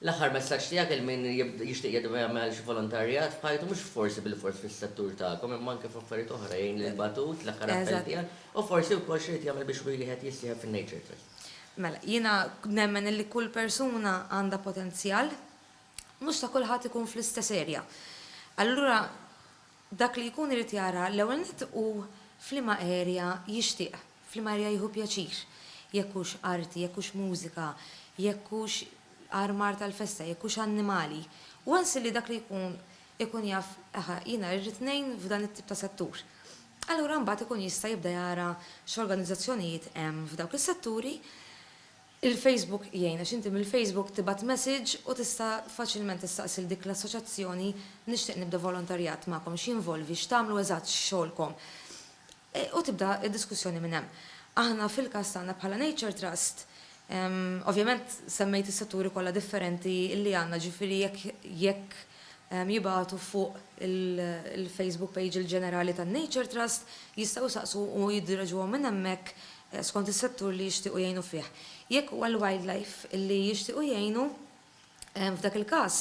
L-aħħar messaġġ tiegħek għal min jixtieq jgħidilkom jagħmel xi volontarjat f'ħajtu mhux forsi bilfors fis-settur tagħkom imma anke f'affarijiet oħra jgħin lil batut l-aħħar appell tiegħek u forsi wkoll x'iried jagħmel biex wiliħed jissieħeb fin-Nature Trust. Mela, jiena nemmen illi kull persuna għandha potenzjal, mhux ta' kulħadd ikun fl-istess area. Allura Dak li jkun irid jara l-ewwel nett hu f'liema area jixtieq, f'liema area jieħu pjaċir. Jekk hux arti, jekk hux mużika, jekk hux armar tal-festa, jekk hux annimali. Once illi dak li jkun ikun jaf, aha, jiena rrid ngħin f'dan it-tip ta' settur. Allura mbagħad ikun jista' jibda jara x'organizzazzjonijiet hemm f'dawk is-setturi. Il-Facebook jgħin għax inti mill-Facebook tibgħat message u tista' faċilment tistaqsi 'l dik l-assoċjazzjoni nixtieq nibda volontarjat magħkom, x'jinvolvi, x'tagħmlu eżatt, x'xogħolkom? u tibda d-diskussjoni minn hemm. Aħna fil-każ tagħna bħala Nature Trust, ovvjament semmejt is-setturi kollha differenti li għandna ġifieri jekk jekk jibagħtu fuq il-Facebook page il-ġenerali tan-Nature Trust jistgħu jsaqsu u jiddireġuhom minn hemmhekk skont is-settur li jixtiequ jgħinu fih. Jekk huwa l-wildlife li jixtiequ jgħinu, f'dak il-każ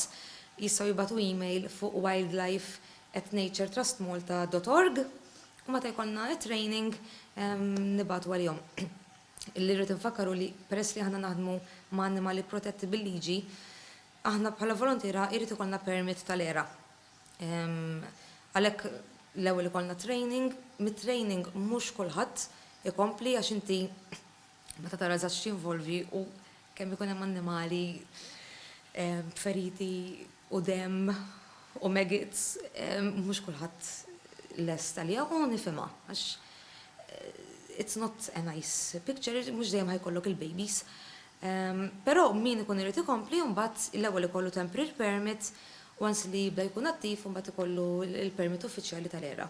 jistgħu jibagħtu email fuq wildlife@naturetrustmalta dot org u meta jkollna t-training nibagħtu għalihom. Li rrid infakkar hu li peress li aħna naħdmu ma' annimali protetti bil-liġi, aħna bħala voluntiera jrid ikollna permit tal-ERA. Għalhekk l-ewwel ikollna training, mit-training mhux kulħadd ikompli għax inti meta tara eżatt x'jinvolvi u kemm ikun hemm annimali b'feriti u demm u maggots mhux kulħadd lest għaliha u nifhimha għax it's not a nice picture, mhux dejjem ħajkollok il-babies. Però min ikun irid ikompli mbagħad l-ewwel ikollu temporary permit, once li jibda jkun attiv mbagħad ikollu l-permit uffiċjali tal-ERA.